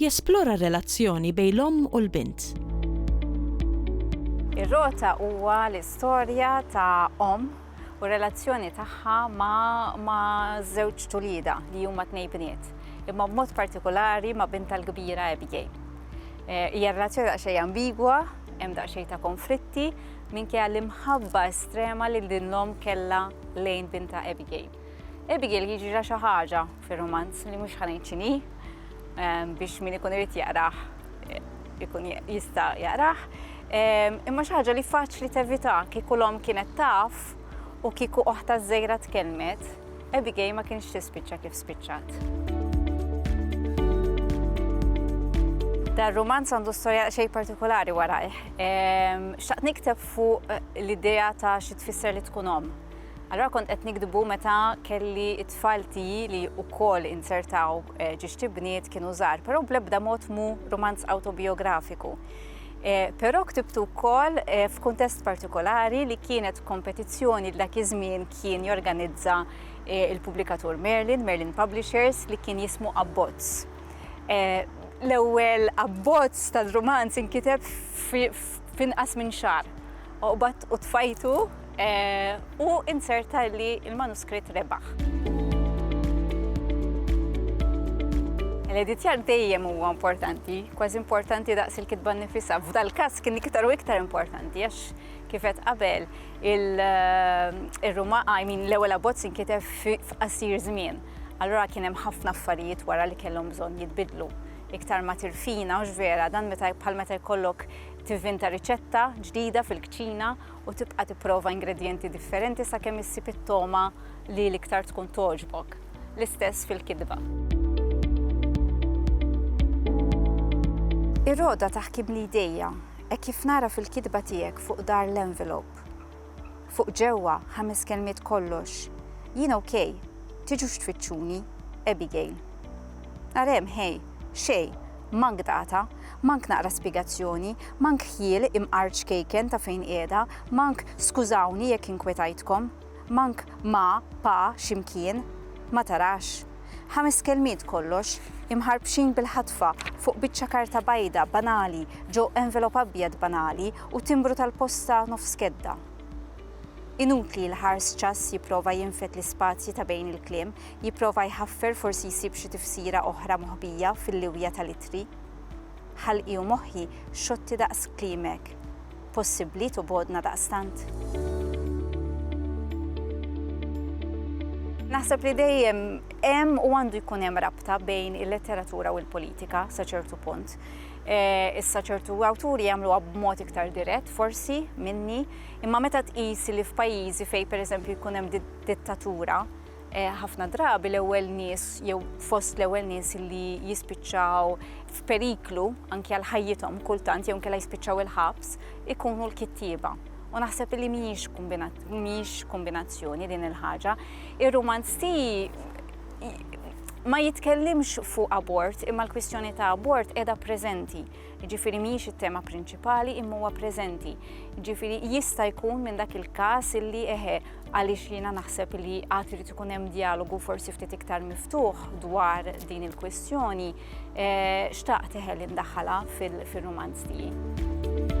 Jesplora r-relazzjoni bejn l-omm u l-bint. Ir-Rota huwa l-istorja ta' omm u r-relazzjoni tagħha ma' żewġt uliedha li huma tnej bniet, imma b'mod partikulari ma' bintha l-kbira Abigail. Hija relazzjoni daqsxejn ambigwa, hemm daqsxejn ta' konflitti minkejja l-imħabba estrema li din l-omm kellha lejn bintha Abigail. Abigail jiġrilha xi ħaġa fir-rumanz li mhux ħa ngħid x'inhi biex min ikun irid jaqrah ikun jista' jaqrah. Imma xi ħaġa li faċli tevita kieku l-omm kienet taf u kieku oħta żgħira tkellmet, Abigail ma kienx tispiċċa kif spiċċat. Dar romanz għandu storja xej partikolari warajh. Xaqt nikteb fuq eh, l-idea ta' xi tfisser li tkun om. Allura kont qed nikdbu meta kelli t-tfal tiegħi li wkoll inzertaw eh, ġiġti bniet kienu żgħar, però bl-ebda mod mu romanz autobiografiku. Eh, però ktibtu wkoll eh, f'kuntest partikolari li kienet kompetizzjoni dak iż-żmien kien jorganizza il-pubblikatur Merlin, Merlin Publishers, li kien jismu Abbozz. L-ewwel abbozz tal-romanz inkiteb f'inqas minn xar Oqbad u tfajtu u inzerta li l-manuskritt rebaħ. L-editjar dejjem huwa importanti, kważi importanti daqs il-kitba nnifisha. F'dal-każ kien iktar u iktar importanti għax kif qed qabel ir-Ruma I mean l-ewwel abbozz inkiteb f'qasir żmien. Allura kien hemm ħafna affarijiet wara li kellhom bżonn jitbiddlu. Iktar ma tirfina, hux vera, dan meta bħal meta jkollok Tivvinta riċetta ġdida fil-kċina u tibqa' tipprova ingredjenti differenti sakemm issib it-togħma li l-iktar tkun togħġbok. L-istess fil-kitba. Ir-rogħda taħkimli jdejja, hekk kif nara fil-kitba tiegħek fuq dar l-envelop. Fuq ġewwa, ħames kelmiet kollox. Jien ok, tiġux tfittxuni. Abigail. Nhar hemm, ħej, xejn, mank data, mank naqra spjegazzjoni, mank ħjiel imqar ċkejken ta' fejn qiegħda, mank skużawni jekk inkwetajtkom, mank ma, pa, xi mkien. Ma tarax. Ħames kelmiet kollox, imħarbxin bil-ħatfa fuq biċċa karta bajda banali, ġo envelop abjad banali u timbru tal-posta nofs kedda. Inutli li ħars ċass jipprova jinfed l-ispazji ta' bejn il-kliem, jipprova jħaffer forsi jsib xi tifsira oħra moħbija fil-liwja tal-ittri. Ħalqi u moħħi xotti daqs klimek. possibbli tubgħodna daqstant? Naħseb li dejjem hemm u għandu jkun hemm rabta bejn il-letteratura u l-politika sa ċertu punt. Eh, issa ċertu awturi jagħmluha b'mod iktar dirett, forsi minni, imma meta tqis li f'pajjiżi fejn pereżempju jkun hemm dittatura, Ħafna drabi l-ewwel nies jew fost l-ewwel nies li jispiċċaw f'periklu anke għal ħajjithom kultant jew kella jispiċċaw il-ħabs ikunu l-kittieba. U naħseb li mhijiex kombinazzjoni din il-ħaġa. Ir-romanzi ma jitkellimx fuq abort imma l-kwistjoni ta' abort qiegħda preżenti. jiġifieri mhijiex it-tema prinċipali imma huwa preżenti. Jiġifieri jista' jkun minn dak il-każ illi eħe għaliex jiena naħseb li għad irid ikun hemm dialogu forsi ftit iktar miftuħ dwar din il-kwistjoni, eh, xtaqt eħe li ndaħħala fil-rumanz tiegħi.